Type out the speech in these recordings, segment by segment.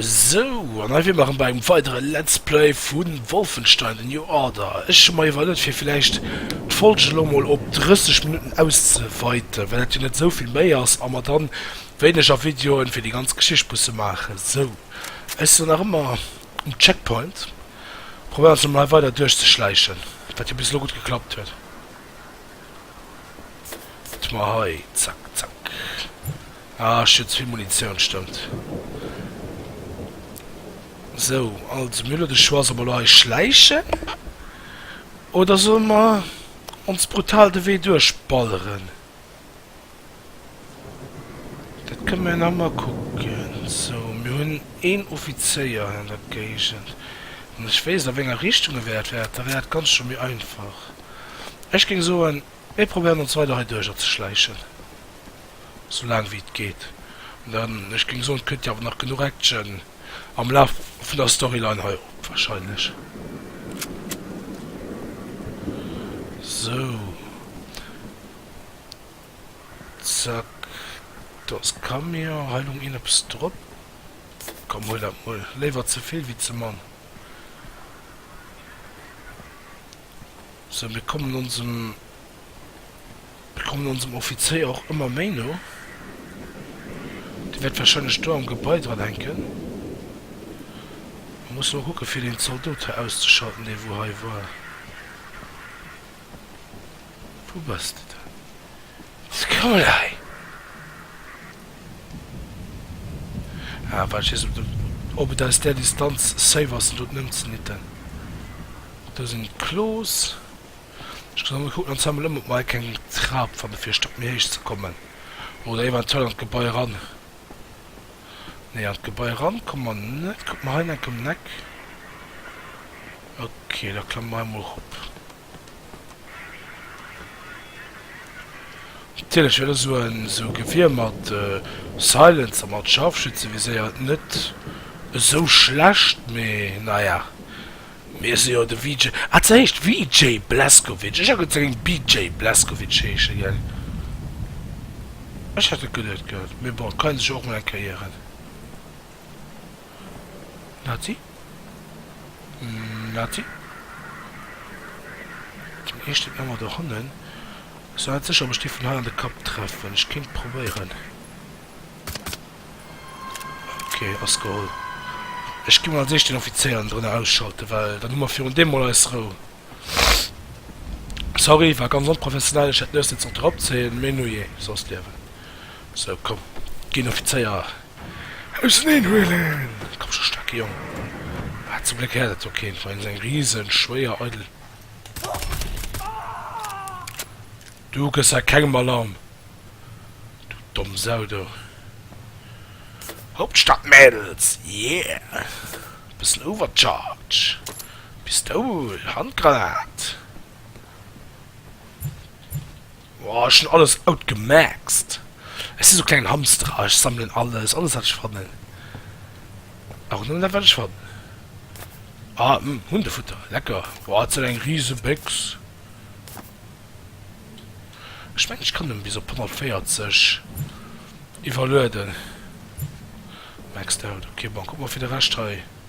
Sou, an hei wier mer erëm bei engem weidere Let's Play vu Wolfenstein, The New Order. Ech hu mer iwwerlëet fir villäicht d'Folge elo mol op 30 Minutten auszeweiten, well dat jo net esou vill méi ass a mer dann wéineger Videoen fir déi ganz Geschicht musse maachen. Sou, ech sinn nach ëmmer um Checkpoint, probéieren ons emol hei weider duerchzeschläichen, wat jo bis elo gutt geklappt huet. Wat mer hei? Zack, zack. Ah, ech hunn ze vill Munitioun, stëmmt. Sou, also mir hu elo de Choix, solle mer elo hei schläichen oder solle mer ons brutal de Wee duerchballeren. Dat kënne mir nach emol kucken. Sou, mir hunn een Offizéier an der Géigend. Wann ech wéisst, a wénger Richtung e wäert wäert, da wär dat Ganzt scho méi einfach. Ech géing soen, mir probéieren ons weider hei duercher ze schläichen, sou laang wéi et geet. An dann, ech géing soen, kënnt jo awer nach genuch Action am Laf vun der Storyline hei op warscheinlech. Sou. Zack, do ass Camion, hei lung een eppes drop, komm huel dat mol, léiwer ze vill wéi ze mann. Sou, mir kommen onsem, mir kommen onsem Offizéier och ëmmer méi no, dee wäert wahrscheinlech do am Gebai dran hänken. Mir musse mol kucke fir deen Zaldot hei auszeschalten, dee wou hei war. Wou bass de dann? Scoulei! Ah, well ech weess net, ob et aus där Distanz safe ass, en doten ëmzenitten. Do sinn d'Klos. Ech muss emol kucken an Zammel ëm, ob mer hei keng Trap fanne fir e Stock méi héich ze kommen. Oder eventuell an d'Gebai eran. Nee, an d'Gebai eran komme mer net. Kucke mer hei enk ëm d'Eck. Ok, da klamme mer hei emol erop. Natierlech huet esou e sou Gewier mat Silencer, mat Scharfschütze viséiert net esou schlecht, mee naja, mir si jo de VJ, ah se heescht VJ Blazkowicz, ech hat geduet se géing BJ Blazkowicz heesche gell, ech hat et geduet gehat, mee bon, et kann ee sech jo och mol eng Kéier ieren. Nazi. Nati, Den eeschten Ëmmer der Honnen. Ech sinn net sécher, ob ech déi vun hei an de Kapp treffen. Ech kéint probéieren. Ok, ass geholl. Ech gi mol als éischt den Offizéier enndrënner ausschalten, well dann hu mer virun deem mol eis Rou. Sorry, war ganz onprofessionell. Ech hätt miéssen d'Zort eropzéien, mee nujee, soss Liewen. Sou, komm, ginn Offizéier. Auseneen huelen! Komm scho, staarke Jong! Ah, zum Gléck häert et jo keen, well esou eng riesen, schwéier, eidel. Du gëss a kengem Alarm, du domm Sau, du! Hauptstadt, Mädels! Yeah! Bëssen Overcharge! Pistoul! Handgranat! Oh ech hun alles outgemaxt. Ech si sou klengen Hamster a ech sammelen alles, alles wat ech fannen. A rondrem dat wat ech fannen. Ah hm Hundefutter, lecker. Wow dat sou eng riesen Béx. Ech mengen ech kann nëmmen bis op 140 iwwerlueden. Maxed out, ok bon kuck mol fir de Rescht hei.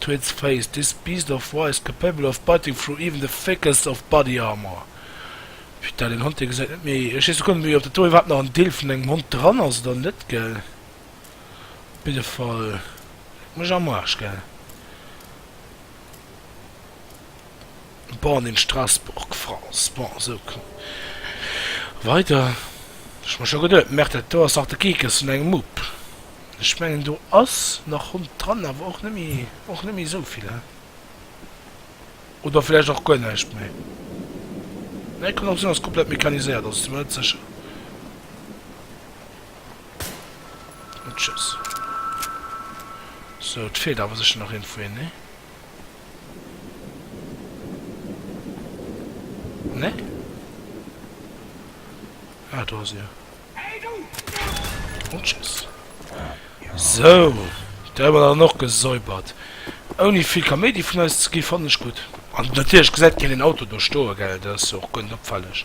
To its face, this beast of war is capable of biting through even the thickest of body armor. Putain, deen Hond, dee gesäit net méi, ech weess guer net méi ob dat do iwwerhaapt nach en Deel vun engem Hond dran ass oder net, gell? Op jiddefall, leck mech am Arsch, gell? born in Strasbourg, France, bon esou kënnt weider, ech mer scho geduet, merk dat do ass nach de Kekes vun engem Mupp, ech mengen do ass nach Hond dran, awer och net méi, och net méi esou vill, hä, oder vläicht och guer näischt méi, nee kann och sinn ass komplett mechaniséiert, also si mer net sécher, tschüss, sou et feelt awer sécher nach een vu hinnen, nee. Nee? Ah, do ass e. Rutschs. Sou, da hu mer dann och gesäubert. Ouni vill Kaméidi vun eis ze gi, fannen ech gutt. An natierlech gesäit keen deen Auto do stoe, gell? Dat ass jo och guer net opfälleg.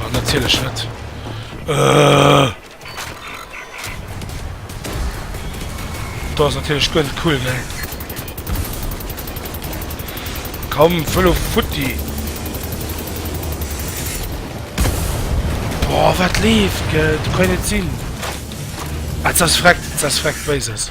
Oh, natierlech net. Äh. Dat ass natierlech guer net cool, ne? Komm, fëll of futti! Boah, wat leeft, gell? Du kann net sinn. Ah, zas freckt, zas freckt, wéi se es.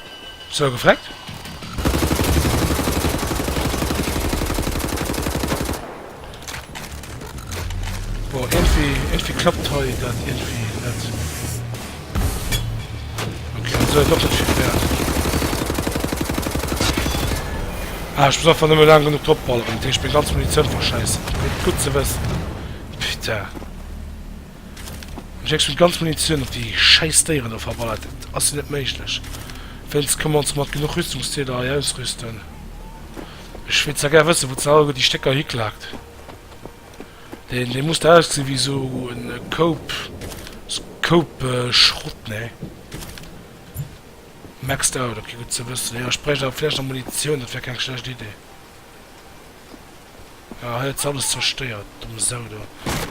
Sou gefreckt. Boah, irgendwie, irgendwie klappt hei dann irgendwie nicht. Okay, dann soll doch nicht viel wert. Ah, ich muss einfach nicht mehr lang genug topballern. Ich bin ganz Munition verscheißen. Gut zu wissen. Bitte. Ech hex mech ganz Munitioun op déi schäiss Déieren do verballert, dat ass jo net méiglech, wéinst kommen ons mat genuch Rüstungsdeeler hei ausrüsten, ech wier zwar gär wëssen wou ze Hallgo déi Stécker hiklaakt, dee muss der ausgesi wéi sou e Koup Koup Schrott, nee maxed out, ok gutt ze wëssen, jo ech bräicht awer vläicht nach Munitioun, dat wär keng schlecht Idee. Ah, hei huet se alles zerstéiert, dumm Sau do.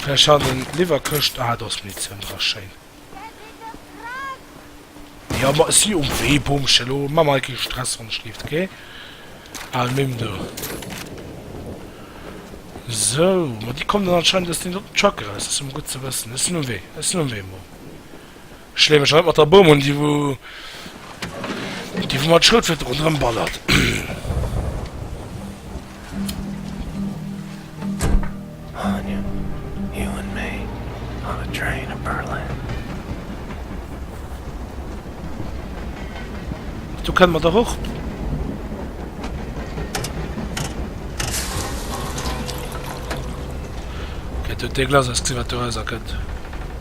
Vläch han en d'Liwwerkëscht, ah, do ass Munitioun dra, schéin. Jo, ma ech si um Wee, Boomchen, elo ma mer kee Stress, wann ech leeft, ok? Ah, nimm do. Sou, ma déi kommen dann anscheinend aus deem doten Truck eraus, dat ass jo mol gutt ze wëssen. Ech sinn um Wee, ech sinn um Wee, Mom. Ech leeë mech haut mat der Boom un, déi wou déi wou mer d'Schroutflint ronderëm ballert. Do kënne mer dach och. Gett huet dee Glas ausgezunn, wat do erauserkënnt.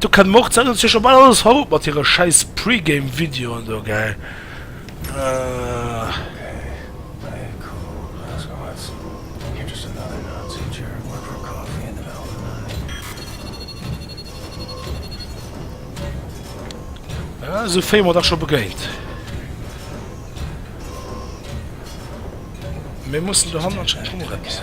Do kann mer och d'Sendung ze scho bal alles haut mat hire schäiss Pre-Game Videoen do gell ahh. Ah esou Fame mer dach scho begéint. Mir mussen dohanner anscheinend och nach eppes.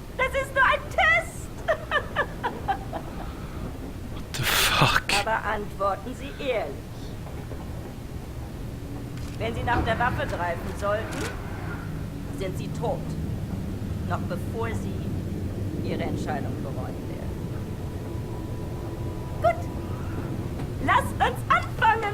Das ist nur ein Test! What the fuck? Aber antworten Sie ehrlich. Wenn Sie nach der Waffe greifen sollten, sind Sie tot, noch bevor Sie Ihre Entscheidung bereuen werden. Gut, lass uns anfangen!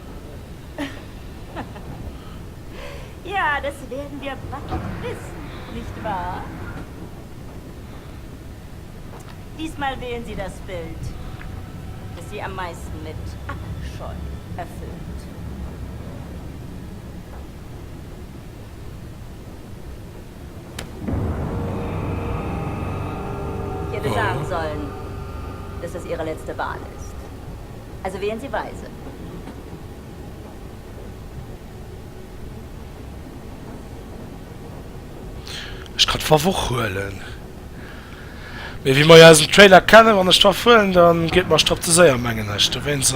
Ja, das werden wir bald wissen, nicht wahr? Diesmal wählen Sie das Bild, das Sie am meisten mit Abscheu erfüllt. Ich hätte sagen sollen, dass das Ihre letzte Wahl ist. Also wéi en se weisen. Ech kann d'Favoch huelen. Mee wéi mer jo aus dem Trailer kennen, wann ech d'Waff huelen, dann geet mer Stropp ze séier, mengen ech. Dowéinst.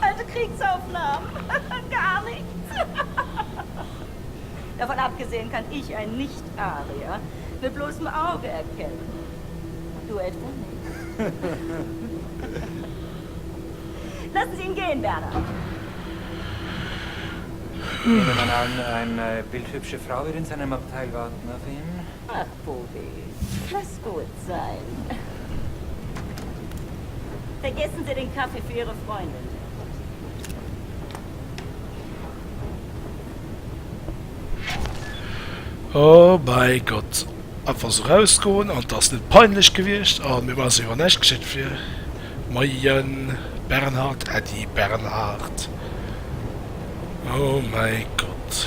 Well de Kriegsaufnahm gar nichts. Davon abgesehen kann ich ein Nicht-Arier mit bloßem Auge erkennen. Du etwa nicht? Lassen Sie ihn gehen, Werner. Nehmen wir mal an, eine bildhübsche Frau wird in seinem Abteil warten auf ihn. Ach Boris, lass gudd sein. Vergessen Sie den Kaffee für Ihre Freundin nicht. Oh mei Gott, einfach sou rausgoen an ass net peinlech gewiecht an mir ass iwwer näischt geschitt fir Moien Bernhard, Äddi Bernhard, oh mei Gott.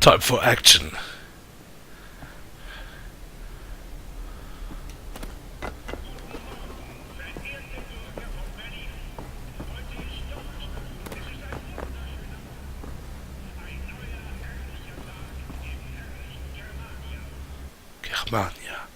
Time for action! Germania.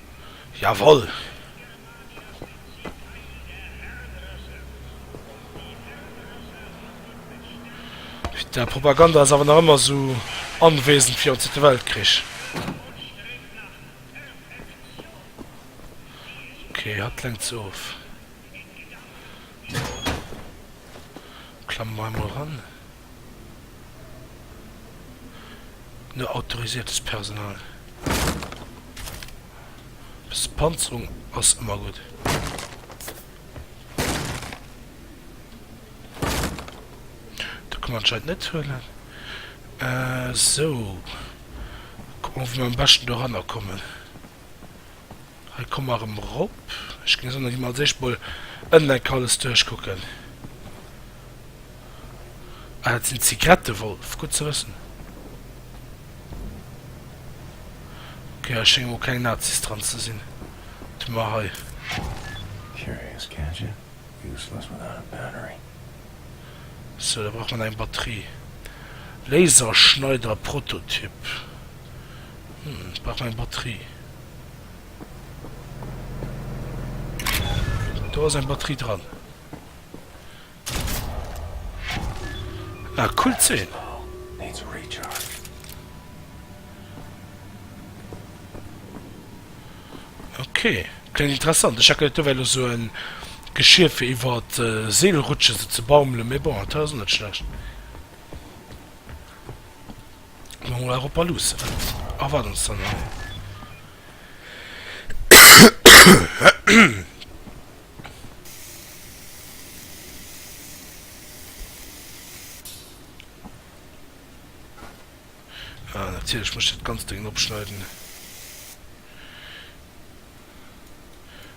Jawoll! Däi Propaganda ass awer nach ëmmer esou anwesend wéi am Zweete Weltkrich. Ok, hatt lenkt se of. Klamme mer emol eran. no autorisiertes Personal. E bësse Panzerung ass ëmmer gutt. Dat kann een anscheinend net huelen. Esou. Kucke mer, wéi mer am beschten doranner kommen. Hei komme mer erëm erop. Ech géing soen, da gi mer als éischt emol ënnen enk alles duerchkucken. Ah, dat sinn Zigrette, Wolf, gutt ze wëssen. Okay, hei schénge mol keng Nazis dran ze sinn. Wat hu mer hei? Sou, da brauch mer nach eng Batterie. Laserschneider Prototyp. Hm, brauch mer eng Batterie. Do ass eng Batterie dran. Ah, cool Zeen. Ok, klengt interessant. Ech hat geduet do wär lo sou en Geschir fir iwwer Seelrutschen sou ze baumelen, mee bon dat ass net schlecht. Hu mer mol awer op der Luusse wat erwaart ons dann hei. Ah natierlech muss ech dat ganzt Dengen opschneiden.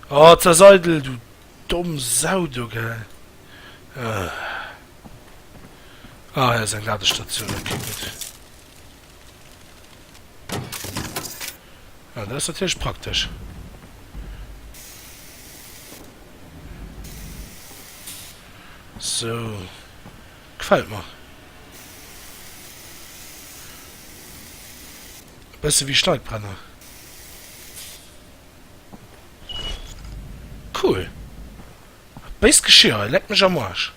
Oh zerseidel du domm Sau do gell. Ah hei ass eng Ladestation ok gutt. Ah dat ass natierlech praktesch. Sou. Gefällt mer. E bësse wéi Steipbrenner. Cool! Béist Geschir hei, leck mech am Arsch!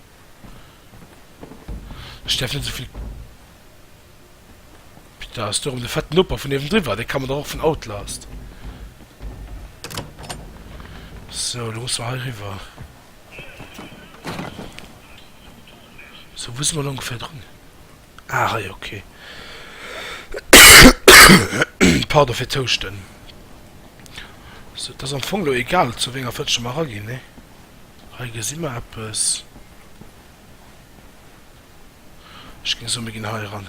Ech däerf net esou vill. Pita ass do erëm de fetten Noper vun niewendriwwer. Dee kann mer dach och vun Outlast. Sou, lo musse mer hei riwwer. So wou si mer lo ongeféier drun? Ah hei ok. Pardon fir d'Houschten. So et ass am Fong lo egal zu wénger Fëtschen mer eraginn ne? Hei gesi mer eppes. Ech géing soen mir ginn hei eran.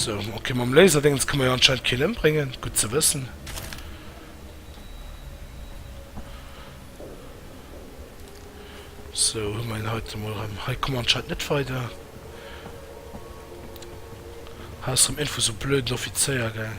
So, okay, mam Laserdéngens ka mer jo anscheinend keen ëmbréngen. Gutt ze wëssen. So, hu mer en heiten emol erëm. Hei komme mer anscheinend net weider. Hei ass erëm Info zu blöden Offizéier, gell.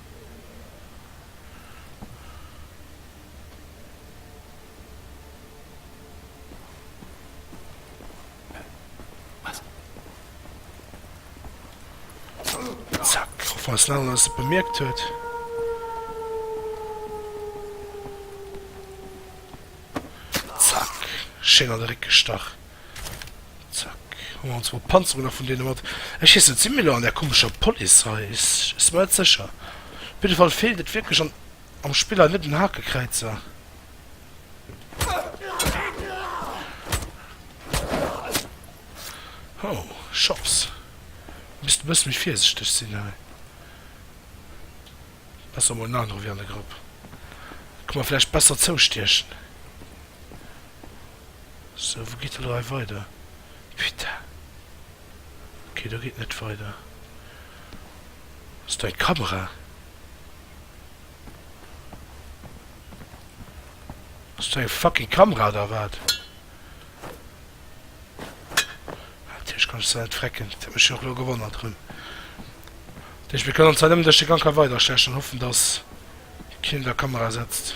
Falls den Alan se bemierkt huet. Zack. Schéin an de Réck gestach. Zack. Hu mer ons mol d'Panzerung nach vun deene mat. Ech heessen, et si mir lo an där komescher Police hei. Ech si mer net sécher. Op jidde Fall feelt et wierklech an am Spill hei net un Hakekräizer. Hou, Shops. Misst e bësse méi virsichteg sinn hei. Besser mol en anere wéi an de Grapp. Ka mer vläicht besser zoustiechen. Sou wou geet dat hei weider? Putain ok do geet net weider. Ass do eng Kamera? Ass do eng fucking Kamera oder wat? Natierlech kann ech se net frecken, dat huet mech jo och lo gewonnert erëm. Dat heescht mir kënnen anscheinend nëmmen duerch de Gank hei weiderstechen an hoffen dass keen der Kamera setzt.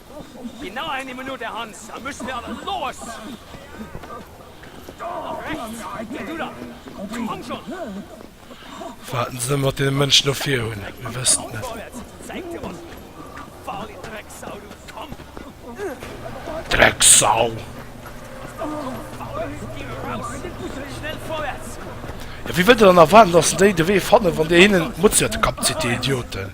Genau eine Minute, Hans, dann müssen wir aber los! Nach rechts! Geh du da! Komm schon! Wat se mat deene Mënschen do vir hunn, mir wëssen et net. Drecksau! Ja, wéi wëllt Der dann erwaarden, dass se déi de Wee fannen, wann Dir hinnen d'Mutzi op de Kapp zitt, Dir Idioten?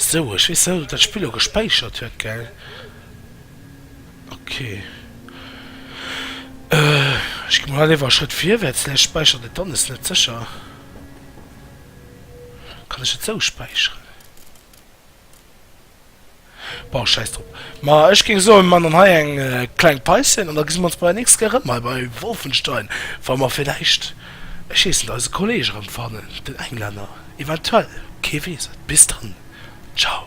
Sou, ech weess net ob dat Spill lo gespäichert huet, gell? Ok. Ech gi mol hei léiwer e Schrëtt virwärts, vläicht späichert et dann, ass net sécher. Kann ech et sou späicheren? Bon, scheiss drop. Ma ech géing soen, mir man dann hei eng kleng Päuschen an da gesi mer ons bei der nächster erëm hei bei Wolfenstein, wa mer villäicht, ech heessen et, eise Kolleg erëm fannen, den Englänner, eventuell, kee weess et. Bis dann, ciao.